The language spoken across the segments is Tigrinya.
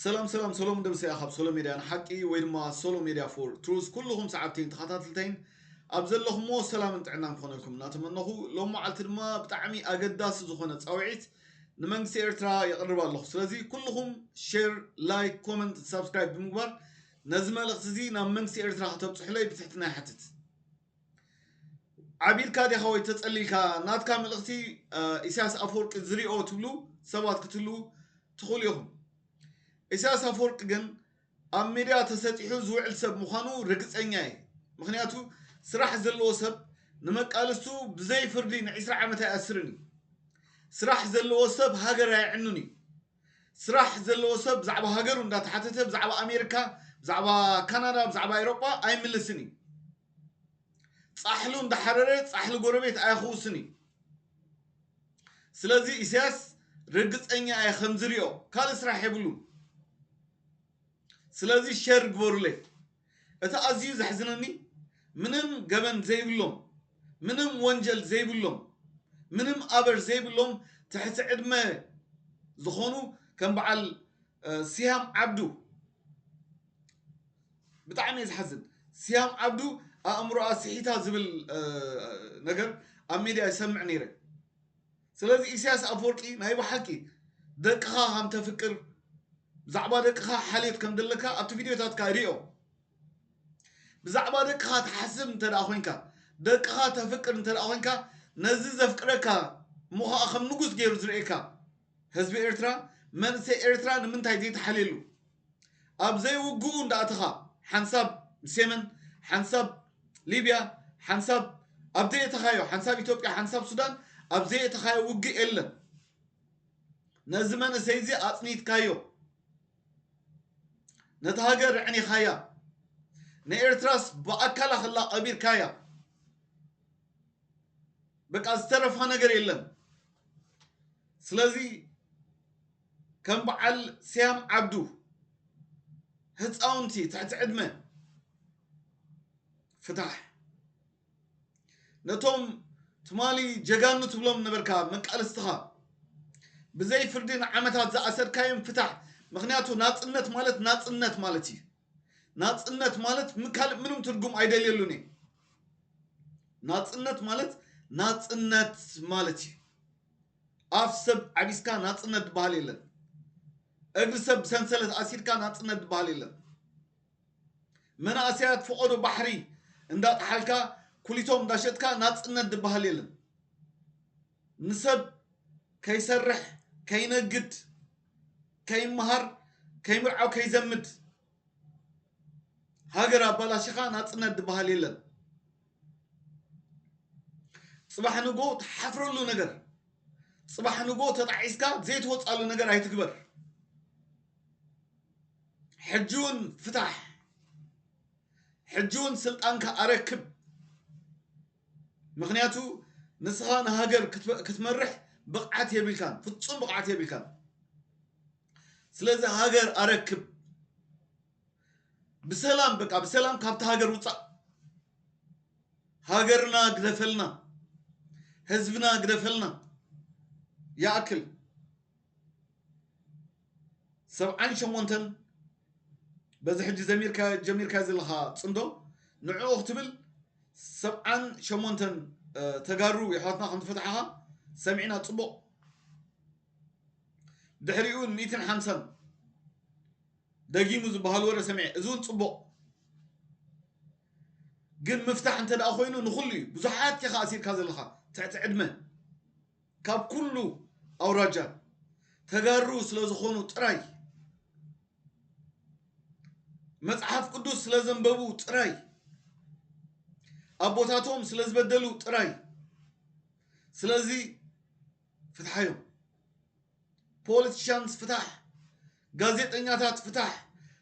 ሰላም ሰላም ሰሎሙን ደምሴ እያ ካብ ሶሎ ሜድያ ንሓቂ ወይ ድማ ሶሎ ሜድያ ፎር ትሩዝ ኩሉኹም ሰዓብተይን ተኸታትልተይን ኣብ ዘለኹምዎ ሰላምን ጥዕናን ክኾነልኩም እናተመነኹ ሎም መዓልቲ ድማ ብጣዕሚ ኣገዳሲ ዝኾነ ፃውዒት ንመንግስቲ ኤርትራ የቕርብ ኣለኹ ስለዚ ኩሉኹም ሼር ላይክ ኮመንት ሳብስክራይብ ብምግባር ነዚ መልእኽቲ እዚ ናብ መንግስቲ ኤርትራ ከተብፅሑለይ ብትሕትና ይሓትት ዓቢድካ ዲኻ ወይ ተጸሊልካ ናትካ መልእኽቲ ኢሳያስ ኣፈወርቂ ዝሪኦ ትብሉ ሰባት ክትህልዉ ትኽእሉ ኢኹም። ኢሳያስ ኣፈወርቂ ግን ኣብ ሚድያ ተሰጢሑ ዝውዕል ሰብ ምዃኑ ርግጸኛ እየ። ምክንያቱ ስራሕ ዘለዎ ሰብ ንመቃልስቱ ብዘይ ፍርዲ ንዒስራ ዓመት ኣይኣስርን እዩ። ስራሕ ዘለዎ ሰብ ሃገር ኣየዕኑን እዩ። ስራሕ ዘለዎ ሰብ ብዛዕባ ሃገሩ እንዳተሓተተ ብዛዕባ ኣሜርካ ብዛዕባ ካናዳ ብዛዕባ ኤሮጳ ኣይምልስን እዩ ጻሕሉ እንዳሓረረ ጻሕሊ ጎረቤት ኣየኽውስን እዩ ስለዚ ኢሳያስ ርግጸኛ እየ ከምዝሪኦ ካልእ ስራሕ የብሉን ስለዚ ሸር ግበሩለይ እቲ ኣዝዩ ዘሕዝነኒ ምንም ገበን ዘይብሎም ምንም ወንጀል ዘይብሎም ምንም ኣበር ዘይብሎም ትሕቲ ዕድመ ዝኾኑ ከም በዓል ሲሃም ዓብዱ ብጣዕሚ እየ ዝሓዝን ሲሃም ዓብዱ ኣእምሮኣ ስሒታ ዝብል ነገር ኣብ ሚድያ ይሰምዕ ነይረ ስለዚ ኢሰያስ ኣፍወርቂ ናይ በሓቂ ደቅኻ ከም ተፍቅር ብዛዕባ ደቅኻ ሓልዮት ከም ዘለካ ኣብቲ ቪድዮታትካ ሪኦ ብዛዕባ ደቅኻ ትሓስብ እንተ ኮንካ ደቅኻ ተፍቅር እንተ ኮንካ ነዚ ዘፍቅረካ እሞ ኸኣ ከም ንጉስ ገይሩ ዝርእየካ ህዝቢ ኤርትራ መንእሰይ ኤርትራ ንምንታይ ዘይተሓልየሉ ኣብ ዘይውግኡ እንዳኣተኻ ሓንሳብ ሴመን ሓንሳብ ሊብያ ሓንሳብ ኣብ ዘይእተኻዮ ሓንሳብ ኢትዮጵያ ሓንሳብ ሱዳን ኣብ ዘይእተኻዮ ውግእ የለን ነዚ መንእሰይዚ ኣጽኒትካዮ ነታ ሃገር ኣዕኒኻያ ንኤርትራስ ብኣካላ ክላ ቀቢርካያ በቃ ዝተረፋ ነገር የለን ስለዚ ከም በዓል ስያም ዓብዱ ህፃውንቲ ትሕቲ ዕድመ ፍታሕ ነቶም ትማሊ ጀጋኑ ትብሎም ነበርካ መቃልስትኻ ብዘይ ፍርዲ ንዓመታት ዝኣሰርካዮም ፍታሕ ምክንያቱ ናፅነት ማለት ናፅነት ማለት እዩ ናፅነት ማለት ካልእ ምንም ትርጉም ኣይደልየሉን እዩ ናፅነት ማለት ናፅነት ማለት እዩ ኣፍ ሰብ ዓቢስካ ናጽነት ድበሃል የለን። እግሪ ሰብ ብሰንሰለት ኣሲርካ ናጽነት ድበሃል የለን። መናእሰያት ፈቖዶ ባሕሪ እንዳጠሓልካ ኩሊቶም እንዳሸጥካ ናጽነት ድበሃል የለን። ንሰብ ከይሰርሕ ከይነግድ ከይመሃር ከይምርዓው ከይዘምድ፣ ሃገር ኣባላሺኻ ናጽነት ድበሃል የለን። ጽባሕ ንግሆ ትሓፍረሉ ነገር፣ ጽባሕ ንግሆ ተጣዒስካ ዘይትወጻሉ ነገር ኣይትግበር። ሕጂውን ፍታሕ፣ ሕጂውን ስልጣንካ ኣረክብ። ምክንያቱ ንስኻ ንሃገር ክትመርሕ ብቕዓት የብልካን፣ ፍጹም ብቕዓት የብልካን። ስለዚ ሃገር ኣረክብ ብሰላም በቃ ብሰላም ካብቲ ሃገር ውፃእ ሃገርና ግደፈልና ህዝብና ግደፈልና ይኣክል ሰብዓን ሸሞንተን በዚ ሕጂ ዘሚርካ ጀሚርካ ዘለኻ ፅምዶ ንዕኡ ክትብል ሰብዓን ሸሞንተን ተጋሩ የሕዋትና ከም ዝፈትሓኻ ሰሚዕና ፅቡቕ ድሕሪኡ ን ሚእትን ሓምሳን ደጊሙ ዝበሃል ወረ ሰሚዐ እዚ ውን ጽቡቕ ግን ምፍታሕ እንተ ደኣ ኮይኑ ንኹሉ እዩ ብዙሓት ኢኻ ኣሲርካ ዘለኻ ትሕቲ ዕድመ ካብ ኩሉ ኣውራጃ ተጋሩ ስለ ዝኾኑ ጥራይ መጽሓፍ ቅዱስ ስለ ዘንበቡ ጥራይ ኣቦታቶም ስለ ዝበደሉ ጥራይ ስለዚ ፍትሓ እዮም። ፖለቲሻንስ ፍታሕ፣ ጋዜጠኛታት ፍታሕ፣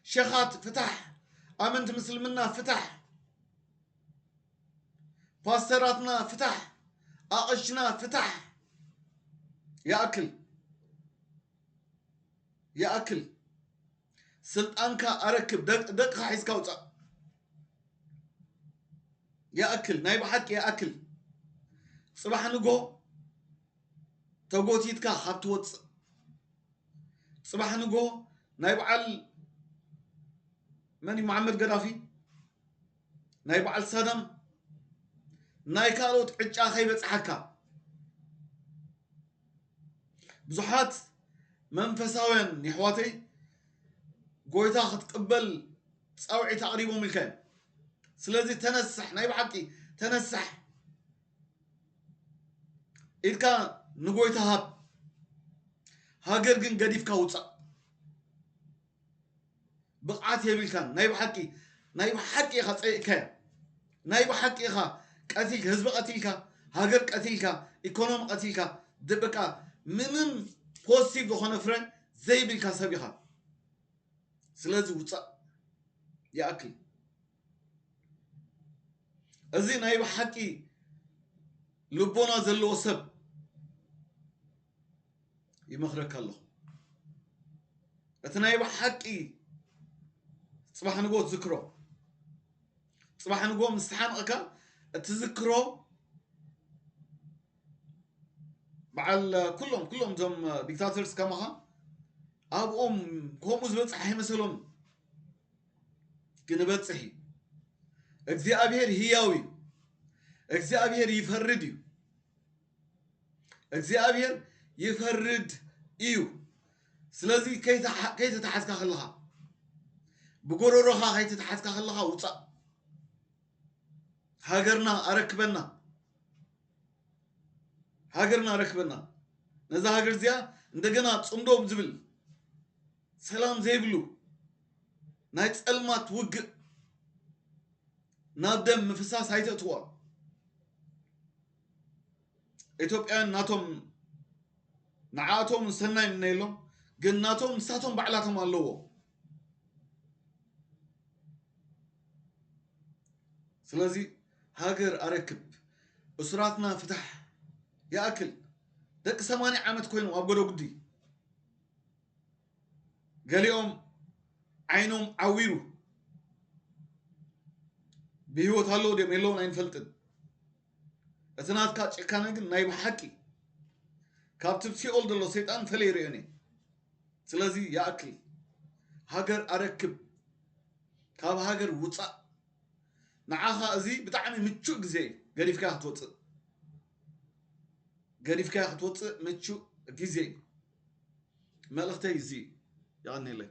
ሸኻት ፍታሕ፣ ኣመንቲ ምስልምና ፍታሕ፣ ፓስተራትና ፍታሕ፣ ኣቐሽና ፍታሕ። ይኣክል ይኣክል። ስልጣንካ ኣረክብ ደቅካ ሒዝካ ውጻእ። ይኣክል ናይ ብሓቂ ይኣክል ጽባሕ ንግሆ ተጎቲትካ ካብ ትወጽእ ጽባሕ ንግሆ ናይ በዓል መን እዩ መሓመድ ገዳፊ ናይ በዓል ሳዳም ናይ ካልኦት ዕጫ ከይበጽሓካ ብዙሓት መንፈሳውያን የሕዋተይ ጎይታ ክትቅበል ጻውዒት ኣቕሪቦም ኢልካ እዮም ስለዚ ተነሳሕ ናይ ብሓቂ ተነሳሕ ኢድካ ንጎይታ ሃብ ሃገር ግን ገዲፍካ ውፃእ ብቅዓት የብልካን ናይ ብሓቂ ናይ ብሓቂ ኢካ ጸይቅካያ ናይ ብሓቂ ኢካ ቀቲል ህዝቢ ቀቲልካ ሃገር ቀቲልካ ኢኮኖሚ ቀቲልካ በቃ ምንም ፖስቲቭ ዝኮነ ፍረ ዘይብልካ ሰብ ኢካ ስለዚ ውጻእ ይኣክል እዚ ናይ ብሓቂ ልቦና ዘለዎ ሰብ ይመኽረካ ኣለኹ። እቲ ናይ ብሓቂ ጽባሕ ንጎ ትዝክሮ ጽባሕ ንጎ ምስ ተሓንቕካ እትዝክሮ በዓል ኩሎም ኩሎም እዞም ዲክታተርስ ከማኻ ኣብኦም ከምኡ ዝበፅሕ ኣይመሰሎም ግን በፅሕ እዩ እግዚኣብሔር ህያው እዩ እግዚኣብሔር ይፈርድ እዩ እግዚኣብሔር ይፈርድ እዩ ስለዚ ከይተተሓዝካ ከለኻ ብጎረሮኻ ከይተተሓዝካ ከለኻ ውፃእ ሃገርና ኣረክበና ሃገርና ኣረክበና ነዛ ሃገር እዚኣ እንደገና ፅምዶ ዝብል ሰላም ዘይብሉ ናይ ፀልማት ውግእ ናብ ደም ምፍሳስ ኣይተእትዋ ኢትዮጵያውያን ናቶም ንዓኣቶም ሰናይ ምነየሎም ግን ናቶም ንሳቶም ባዕላቶም ኣለዎ ስለዚ ሃገር ኣረክብ እሱራትና ፍታሕ ይኣክል ደቂ ሰማንያ ዓመት ኮይኖም ኣብ ጎደጉዲ ገሊኦም ዓይኖም ዓዊሩ ብህይወት ኣለዉ ድም የለውን ኣይንፈልጥን እቲ ናትካ ጭካነ ግን ናይ ብሓቂ ካብቲ ብ ሲኦል ዘሎ ሰይጣን ፈለይ ሪኦን እየ ስለዚ ይኣክል ሃገር ኣረክብ ካብ ሃገር ውጻእ ንዓኻ እዚ ብጣዕሚ ምቹእ ግዜ እዩ ገዲፍካ ክትወጽእ ገዲፍካ ክትወጽእ ምቹእ ግዜ እዩ መልእኽተይ እዚ እዩ የቐኒለይ